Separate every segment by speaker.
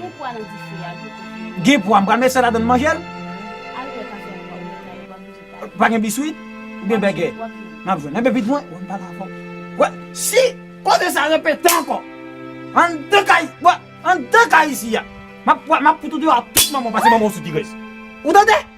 Speaker 1: Gen pwa nan dife a gou kout yo. Gen pwa m pral met sa ladann m manjel. Al fè kafe ak pwa oubyen kay ou pa bezwen kay. Pa gen biswit oubyen bègè. Wap jwenn. Map jwenn. Enben vit mwen wè m pale avè w. Wè si koze sa repete ankò anndan kay wè anndan kay isi a map map fout ou deyò ak tout manman w pase manman w sou ti rès. Ou tande?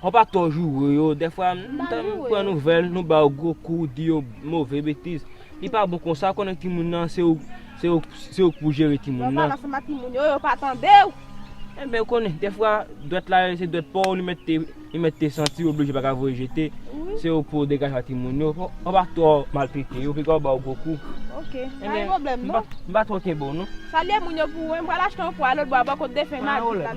Speaker 2: Konpa twò joure yo, dèfwa nou ta pran nouvèl, nou ba yo gwo kou, di yo move betiz. Li pa bon konsa, ou konnen timoun nan, se ou, se ou, se ou ki pou jere timoun nan. Lè w pale ansanm ak timoun yo,
Speaker 3: yo pa tande ou. Enben, ou
Speaker 2: konnen, dèfwa dwèt la se dwèt pa w, li mèt te, li mèt te santi oblije pa ka voye jete. Se ou pou degaje ak timoun yo. Konpa twò maltrete yo, vin gen w ba yo gwo kou. Ok, pa gen
Speaker 3: pwoblèm non. M pa twò kenbe w non.
Speaker 2: Salye moun yo pou mwen,
Speaker 3: m pral achte yon pwa lòtbò a bò kot defen Madi la.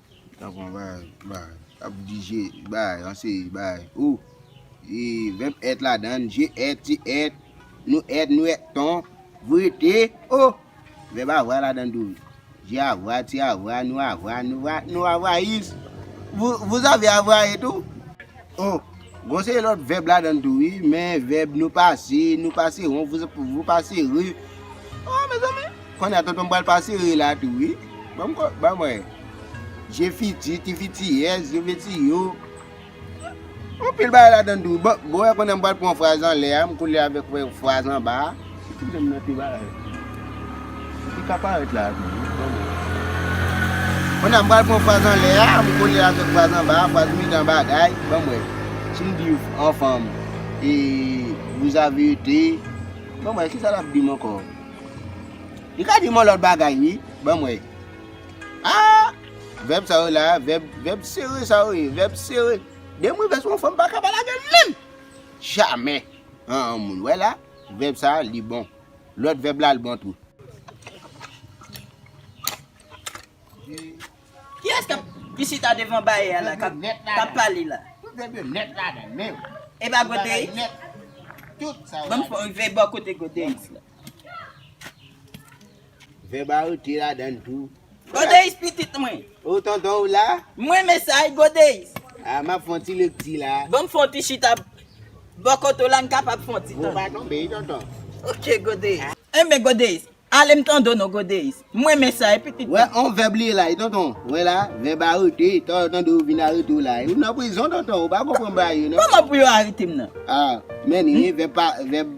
Speaker 4: Tap pran bagay, bagay. Tap di je, bagay, yon seri bagay. Ou, e, vèb èt ladann, je èt, ti èt, nou èt, nou èt ton, vou ete, o! Vèb avwa ladann tou. Je avwa, ti avwa, nou avwa, nou va, nou avwayis. Vou, vou zave avwaye tou. Oh Bon se lòt vèb ladann tou wi men vèb nou pase, nou pase ron, vou pase re Oh mezanmi Konnè a tonton m pral pase re la tou wi Banm ko banm wè Je fiti, ti fiti yèz, yo fiti yo Anpil bagay ladann tou wi Bon wè konnè m pral pran fraz anlè a m kole avèk fraz anba a. Si ti granm nan te parèt. Li te ka parèt la avèm wi granmè. Kounye a m pral pran fraz anlè a, m kole l avèk fraz anba a, fraz mitan an bagay, banm wè. Si m di anfam e vous avez été, banm wè kisa l ap di m ankò. Li ka di m yon lòt bagay wi, banm wè. Aa! Vèb sa yo la, vèb sere sa yo ye, vèb sere. Dè m rive sou yon fanm m pa ka pa lage l menm! Jamè! An an moun wè la. Vèb sa li bon. Lòt vèb la l bon tou.
Speaker 5: Kiyès k ap ki chita devan bayè a la k ap k ap pale la? Tout vèb yo nèt ladan l
Speaker 4: men yo. E pa Godeyi? Banm rive bò kote
Speaker 5: Godeyis la.
Speaker 4: Vèb a rete ladann tou. Godeis pitit
Speaker 5: mwen. O tonton ou la?
Speaker 4: M renmen sa wi
Speaker 5: Godeis. A m ap fè yon ti
Speaker 4: lekti la. Ban m fè yon ti chita
Speaker 5: bò kote w la m kapab fè yon ti tande. Bon pa tonbe wi
Speaker 4: tonton. Ok Godeis.
Speaker 5: Enben Godeis, ale m tande w non Godeis. M renmen sa wi pitit mwen. Wè yon vèb li ye la wi
Speaker 4: tonton. Wè la, vèb a rete, tan yo tande w yo vin arete w la. Ou nan prizon tonton, ou pa konprann bagay yo non. Kòman pou yo arete m nan?
Speaker 5: A, men
Speaker 4: ni, vèb pa, vèb.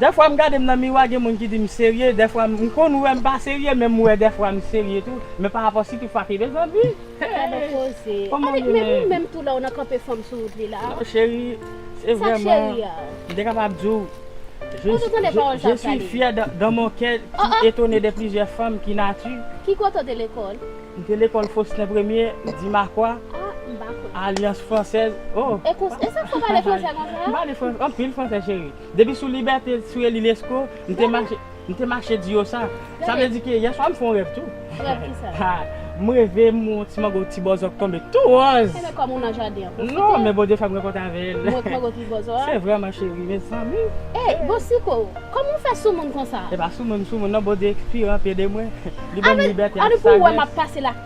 Speaker 3: Dèfwa m gade m
Speaker 6: nan miwa gen moun ki di m serye, dèfwa m konn wè m pa serye men m wè dèfwa m serye tou, men pa rapò sitou frape de zanmi. Gad on koze. Annik men ou
Speaker 3: menm tou la ou nan kanpe fanm sou wout li la. Non cheri,
Speaker 6: se vrèman, m te kapab di w, je suis fier dans mon coeur qui etonne de plusieurs femmes qui natu. Ki kote w te lekòl?
Speaker 3: M te lekòl
Speaker 6: Faustin Premier, Dimakwa, Alliance Française, oh. E sa
Speaker 3: k fè w pale fransè konsa? M pale anpil fransè cheri.
Speaker 6: Depi sou libète sou eli lesko m te mache m te mache di yo sa sa vle di ke yèswa m fon rèv tou Rèv ki sa? ha
Speaker 3: m reve m
Speaker 6: wè yon ti mango ti bòzò tonbe tou wòz Enben kòm ou nan jaden
Speaker 3: an pwofite non men Bondye fè m
Speaker 6: rankontre avè l m wè mango ti bòzò a se vre man cheri mezanmi e bon siko
Speaker 3: kòman w fè soumoun konsa e pa soumoun m soumoun non
Speaker 6: Bondye ekspire anpi ede mwen li ban m libète ak sajès.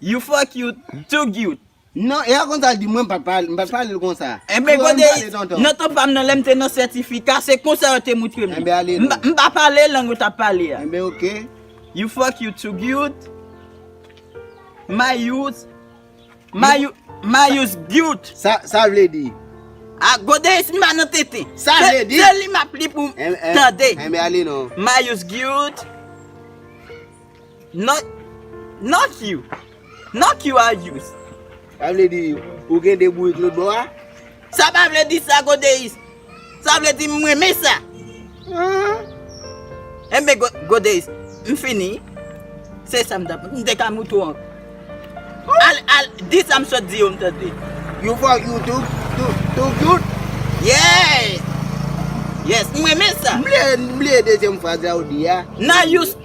Speaker 5: You fuck you too cute. Non epa konsa
Speaker 4: l di mwen m pa pale mpa pale l konsa. Enben gode
Speaker 5: nan tan pam nan lèm te nan sètifika se konsa yo te moutrem li mpa
Speaker 4: pale lang yo
Speaker 5: tap pale a. Enben ok.
Speaker 4: You fuck you
Speaker 5: too cute. Mayous mayou mayous cute. Sa sa vle di.
Speaker 4: A gode
Speaker 5: si m pa nan tenten. Sa vle di. Se li
Speaker 4: map li pou
Speaker 5: tande. Enben ale non.
Speaker 4: Mayous cute.
Speaker 5: Not Not you Not you are used. Sa vle di,
Speaker 4: Ou gen 2 bourik lòt bò a? Sa pa vle
Speaker 5: di sa, Godeis. Sa vle di, M renmen sa. Ahh. Enben, Godeis, m fini. Se sa m ta. M te ka mout ou ankò. Al, al, di sa m sot di yo m tande. You for
Speaker 4: you too,
Speaker 5: too,
Speaker 4: too cute. Yes!
Speaker 5: Yes, m renmen sa. M vle, m vle dezyèm
Speaker 4: fraz la ou di a. Not used.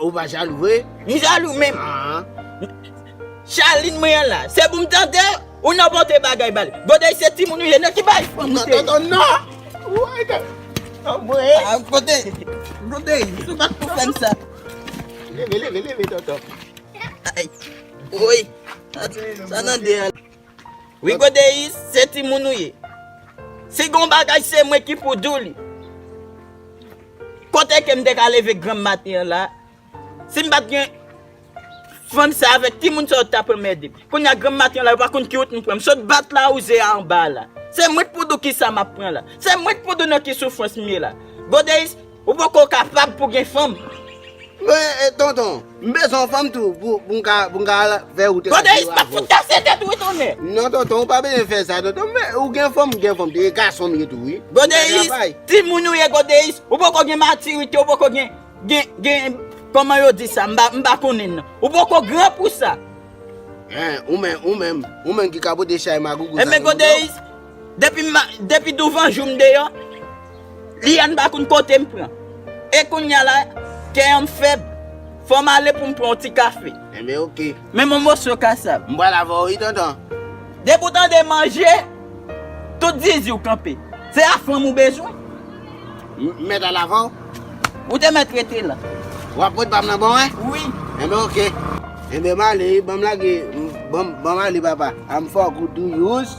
Speaker 5: Ou pa jalou
Speaker 4: vre? M jalou men
Speaker 5: Charline mwen an la se pou m tande ou nan pote bagay ba li. Godey se timoun ou ye nan ki bay fò m tande. Tonton non!
Speaker 4: Woy gad! Anmwey!
Speaker 5: Godey! Godey! Ou pa t pou fè m sa. Leve leve
Speaker 4: leve tonton.
Speaker 5: Woy! Sa nan 2 an la. Rigo Deis se timoun ou ye. Si gon bagay se mwen ki pou di w li. Kote ke m te ka leve granm maten an la, si m pa t gen fanm sa avèk timoun sa yo t ta pran mède m. Kounye a granm maten an la yo pa konn ki wout m pran. M sot bat lawouze a anba a la. Se mwen k pou di w kisa m ap pran la. Se mwen k pou di w nan ki soufrans m ye la. Godeis. Ou poko kapab pou gen fanm. Mwen
Speaker 4: tonton, m bezwen yon fanm tou pou m ka al fè wout radio a. Bodayis pa fout kase
Speaker 5: tèt ou wi tonnè. Non tonton ou pa bezwen
Speaker 4: fè sa tonton m ou gen fanm m gen fanm tou e gason m ye tou wi. Bodayis
Speaker 5: timoun ou ye bodayis ou poko gen matirite ou poko gen gen kòman yo di sa m pa konnen nan. Ou poko gran pou sa. Hein ou
Speaker 4: menm ou menm ou menm ki ka pote chay magougout sa nan menw. Bodayis.
Speaker 5: Depi douvan jou m deyò, li an m pa konn kote m pran. E kounya la, kè an m fèb, fò m ale pou m pran yon ti kafe. Enben ok.
Speaker 4: Men m yon moso
Speaker 5: kasav. M pral avè w wi tonton.
Speaker 4: Depi w tande
Speaker 5: manje, tout zizi w kanpe. Se afranm ou bezwen?
Speaker 4: M mèt al avè w. Ou te mèt
Speaker 5: rete la. W ap pot pa m nan
Speaker 4: ba w e? Wi. Enben ok. Enben m ale wi, ban m lage, ban m ale papa. A m fè w kout tou jous.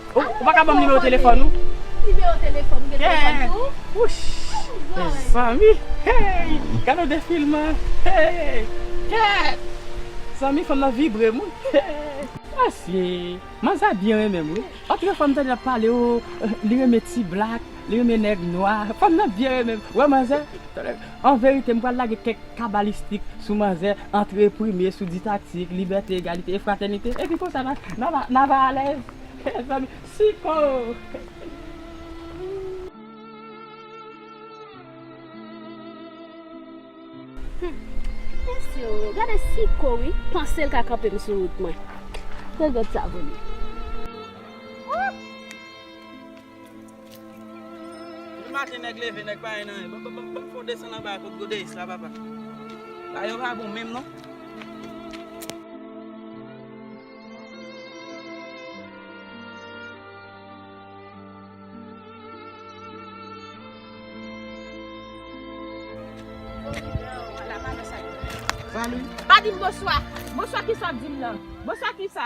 Speaker 6: Ou pa ka banm nimewo telefòn ou? Nimewo telefòn
Speaker 3: ou gen telefòn tou?
Speaker 6: Wouch! Mezanmi! Hey! Gade yon defilman! Hey! Kèèt! Mezanmi fanm nan vibre m wi! Hey! Asye! Manzè a byen renmen m wi! Antuka fwa m tande l ap pale oo li renmen ti blak. Li renmen nèg nwa. Fanm nan byen renmen m. Wè manzè. An verite m pral lage kèk kabalistik sou manzè antre prime sou ditatik, libète, egalite e fratènite. Epi konsa na na va na va alèz. Mezanmi. Siko. Gade
Speaker 3: siko wi. Panse l ka kanpe m sou wout mwen. Regrèt sa vole.
Speaker 5: Bon maten nèg leve nèg pa gen anyen bon fon desann anba kot godeyis la papa bagay yo pa bon menm non.
Speaker 3: Salut. Pa dim boswa. Boswa kisa wap dim nan. Boswa kisa.